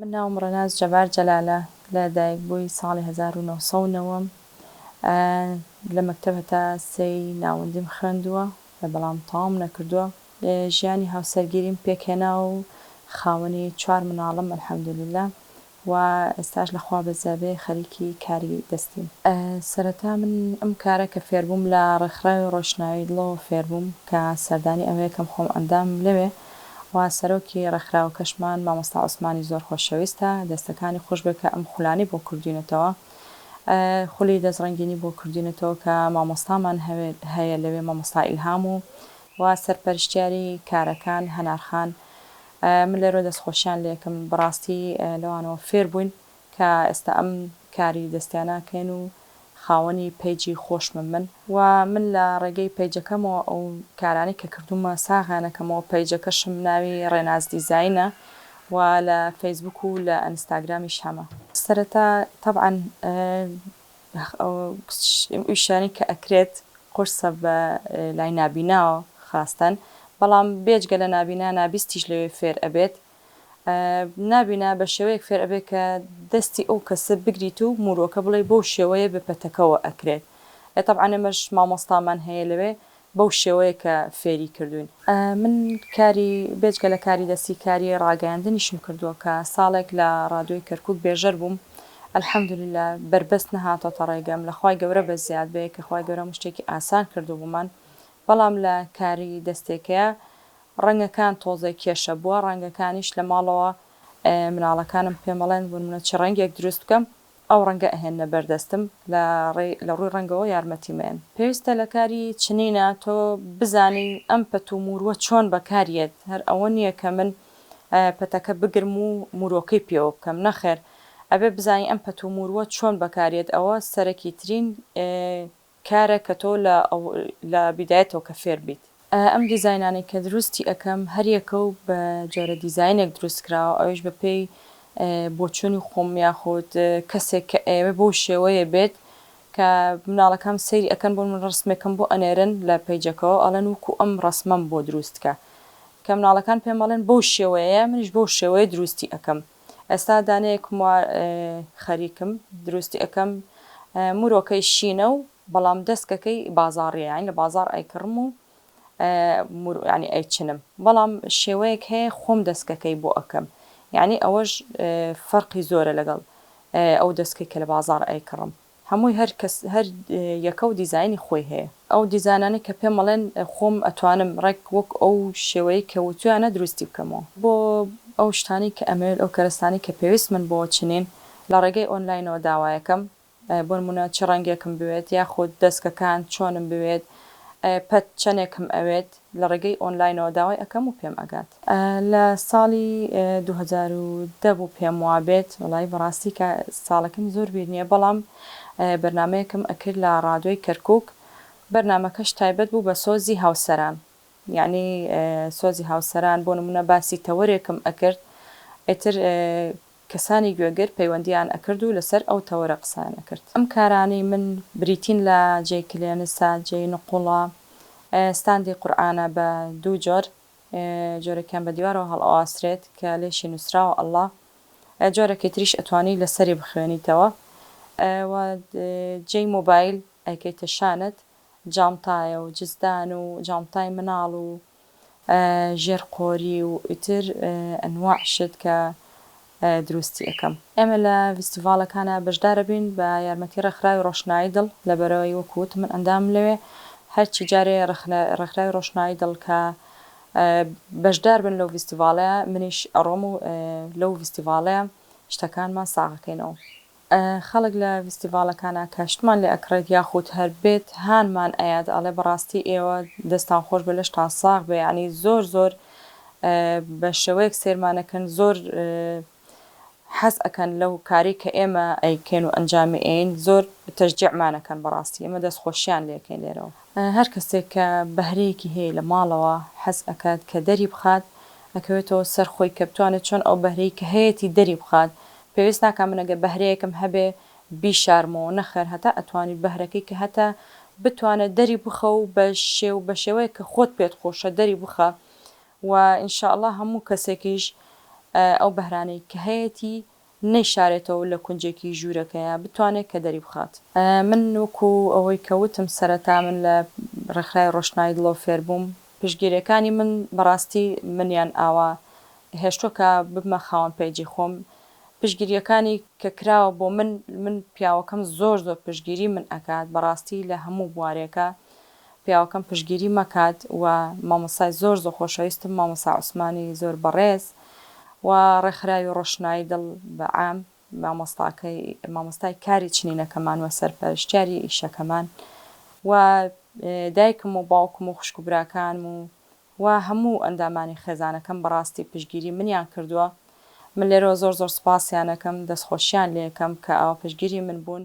من ناوم ڕەناز جەبار جەلالە لە دایک بووی ساڵی هەزار و نۆ سەد و نەوە لە مەکتەب هەتا سێی ناوەندیم خوێندووە بەڵام تەواوم نەکردووە. ژیانی هاوسەرگیریم پێک هێنا و خاوەنی چوار مناڵم الحمدللە و ئێستاش لە خوا بەزیابێ خەریکی کاری دەستیم. سەرەتا من ئەم کارە کە فێربووم لە ڕێکخراوی ڕۆشنایی دڵەوە فێربووم کە سەردانی ئەوێکەم خۆم ئەندامم لەوێ، و سەرۆکی ڕێکخراوەکەشمان مامۆستا عوسمانی زۆر خۆشەویستە دەستەکانی خۆشبێ کە ئەم خولانەی بۆ کردوینەتەوە خولی دەست ڕەنگینی بۆ کردوینەتەوە کە مامۆستامان هەیە لەوێ مامۆستا ئیلهام و و سەرپەرشتیاری کارەکان هەنارخان من لەرۆ دەست خۆشیان لێکم بەڕاستی لەوانەوە فێربووین کە ئێستا ئەم کاری دەستیاناکەین و خاوەنی پەیجی خۆشمم من و من لە ڕێگەی پەیجەکەمەوە ئەو کارانەی کە کردوومە ساغیانەکەمەوە پەیجەکەشم ناوی ڕێناز دیزاینە و لە فەیسبووک و لە ئەنستاگرامیش هەمە. سەرەتا تەبعەن ئەو ئیشانەی کە ئەکرێت قورسە بە لای نابیناوە خاستەن بەڵام بێجگە لە نابینا نابیستیش لەوێ فێر ئەبێت نابینا بە شێوەیەک فێر ئەبێ کە دەستی ئەو کەسە بگریت و موروەکە بڵێ بەو شێوەیە بە پەتەکەوە ئەکرێ ئێ تەبعەن ئێمەش مامۆستامان هەیە لەوێ بەو شێوەیە کە فێری کردووین. من کاری بێجگە لە کاری دەستی کاری ڕاگەیاندنیشم کردووە کە ساڵێک لە ڕادیۆی کەرکوک بێژەر بووم الحمدللە بەربەست نەهاتۆتە ڕێگەم لە خوای گەورە بە زیاد بێ کە خوای گەورە هەموو شتێکی ئاسان کردووبوومان بەڵام لە کاری دەستێکەیا ڕەنگەکان تۆزێ کێشە بووە ڕەنگەکانیش لە ماڵەوە مناڵەکانم پێم ئەڵێن ونمونە چ ڕەنگێک دروست بکەم ئەو ڕەنگە ئەهێننە بەر دەستم لە لە ڕووی ڕەنگەوە یارمەتیم ئەیەن. پێویستە لە کاری چنینە تۆ بزانی ئەم پەت و موروە چۆن بەکار یەت هەر ئەوە نیە کە من پەتەکە بگرم و موروەکەی پێوە بکەم نەخێر ئەبێ بزانی ئەم پەت و موروە چۆن بەکار یەت ئەوە سەرەکی ترین کارە کە تۆ لە لە بیدایەتەوە کە فێر بیت. ئەم دیزاینانەی کە دروستی ئەکەم هەریەکە و بە جۆرە دیزاینێک دروست کراوە ئەویش بە پێی بۆچوونی خۆم یاخود کەسێک کە ئەیەوێ بەو شێوەیە بێت کە مناڵەکەم سەیری ئەکەن بۆ من ڕسمێکم بۆ ئەنێرن لە پەیجەکەوە ئەڵێن وەکو ئەم ڕەسمەم بۆ دروست کە کە مناڵەکان پێم ئەڵێن بەو شێوەیەیە منیش بەو شێوەیە دروستی ئەکەم. ئێستا دانەیەک موار خەریکم دروستی ئەکەم مرۆکەی شینە و بەڵام دەستکەکەی بازاڕیە یانی لە بازار ئەیکڕم و ینی ئەیچنم بەڵام شێوەیەک هەیە خۆم دەستکەکەی بۆ ئەکەم یعنی ئەوەش فەرقی زۆرە لەگەڵ ئەو دەستکەی کە لە بازار ئەیکڕم هەمووی هەر کەس هەر یەکە و دیزاینی خۆی هەیە ئەو دیزانانەی کە پێم ئەڵێن خۆم ئەتوانم ڕێک وەک ئەو شێوەیەی کە وتویانە دروستی بکەمەوە. بۆ ئەو شتانەی کە ئەمەوێت ئەو کەرەستانەی کە پێویستمن بۆ چنین لە ڕێگەی ئۆنلاینەوە داوایەکەم بۆنمونە چ ڕەنگێکم بوێت یاخود دەسکەکان چۆنم بوێت پەت چەنێکم ئەوێت. لە ڕێگەی ئۆنلاینەوە داوای ئەکەم و پێم ئەگات. لە ساڵی دوو هەزار و دە بوو پێم وابێت وەڵایی بەڕاستی کە ساڵەکەم زۆر بیر نیە بەڵام بەرنامەیەکم ئەکرد لە ڕادۆی کەرکوک بەرنامەکەش تایبەت بوو بە سۆزی هاوسەران یەعنی سۆزی هاوسەران بۆ نمونە باسی تەوەرێکم ئەکرد ئیتر کەسانی گوێگر پەیوەندیان ئەکرد و لەسەر ئەو تەوەرە قسەیان ئەکرد. ئەم کارانەی من بریتین لە جێی کلێنسە، جێی نقوڵە، ستاندی قورئانە بە دوو جۆر، جۆرێکیان بە دیوارەوە هەڵئەواسرێت کە لێشی نووسراوە اللە، جۆرێکی تریش ئەتوانی لەسەری بخوێنیتەوە و جێی مۆبایل ئەیکەیتە شانت، جانتایە و جزدان و جانتای مناڵ و ژێر قۆری و ئیتر ئەنواع شت کە دروستی ئەکەم. ئێمە لە ڤیستیڤاڵەکانا بەشدار ئەبین بە یارمەتی ڕێکخراوی ڕۆشنایی دڵ لەبەرئەوەی وەکو وتم من ئەندامم لەوێ هەرچی جارێ ڕێکخراوی ڕۆشنایی دڵ کە بەشدار بن لەو ڤیستیڤاڵەیا منیش ئەڕۆم و لەو ڤیستیڤاڵەیا شتەکانمان ساغ ئەکەینەوە. خەڵک لە ڤیستیڤاڵەکانا کە شتمان لێ ئەکڕێت یاخود هەر بێت هانمان ئەیات ئەڵێ بەڕاستی ئێوە دەستان خۆش بێ لەشتان ساغ بێ یەعنی زۆر زۆر بە شێوەیەک سێرمان ئەکەن زۆر حەز ئەکەن لەو کارەی کە ئێمە ئەیکەین و ئەنجامی ئەیەین زۆر تەشجیعمان ئەکەن بەڕاستی ئێمە دەست خۆشیان لێ ئەکەین لێرەوە هەر کەسێک کە بەهرەیەکی هەیە لە ماڵەوە حەز ئەکات کە دەری بخات ئەکەوێتەوە سەر خۆی کە بتوانێت چۆن ئەو بەهرەی کە هەیەتی دەری بخات پێویست ناکا من ئەگەر بەهرەیەکم هەبێ بیشارمەوە، نەخێر هەتا ئەتوانیت بەهرەکەی کە هەتە بتوانێت دەری بخە و بە شێ و بە شێوەیەک کە خۆت پێت خۆشە دەری بخە و ان شاء اللە هەموو کەسێکیش ئەو بەهرانەی کە هەیەتی نەیشارێتەوە لە کونجێکی ژوورەکەیا بتوانێت کە دەری بخات. من وەکو ئەوەی کە وتم سەرەتا من لە ڕێکخراوی ڕۆشنایی دڵەوە فێر بووم، پشتگیریەکانی من بەڕاستی منیان ئاوا هێشتوە کە ببمە خاوەن پەیجی خۆم پشگیریەکانی کە کراوە بۆ من من پیاوەکەم زۆر زۆر پشگیری من ئەکات بەڕاستی لە هەموو بوارێکا پیاوەکەم پشگیری مەکات و مامۆستای زۆر زۆر خۆشەویستم مامۆسا عوسمانی زۆر بەڕێز و ڕێکخراوی ڕۆشنایی دڵ بە عام مامۆستاکەی مامۆستای کاری چنینەکەمان و سەرپەرشتیاری ئیشەکەمان و دایکم و باوکم و خوشک و براکانم و و هەموو ئەندامانی خێزانەکەم بەڕاستی پشتگیری منیان کردووە من لێرەوە زۆر زۆر سوپاسیانەکەم دەستخۆشیان لێکەم کە ئاوا پشتگیری من بوون.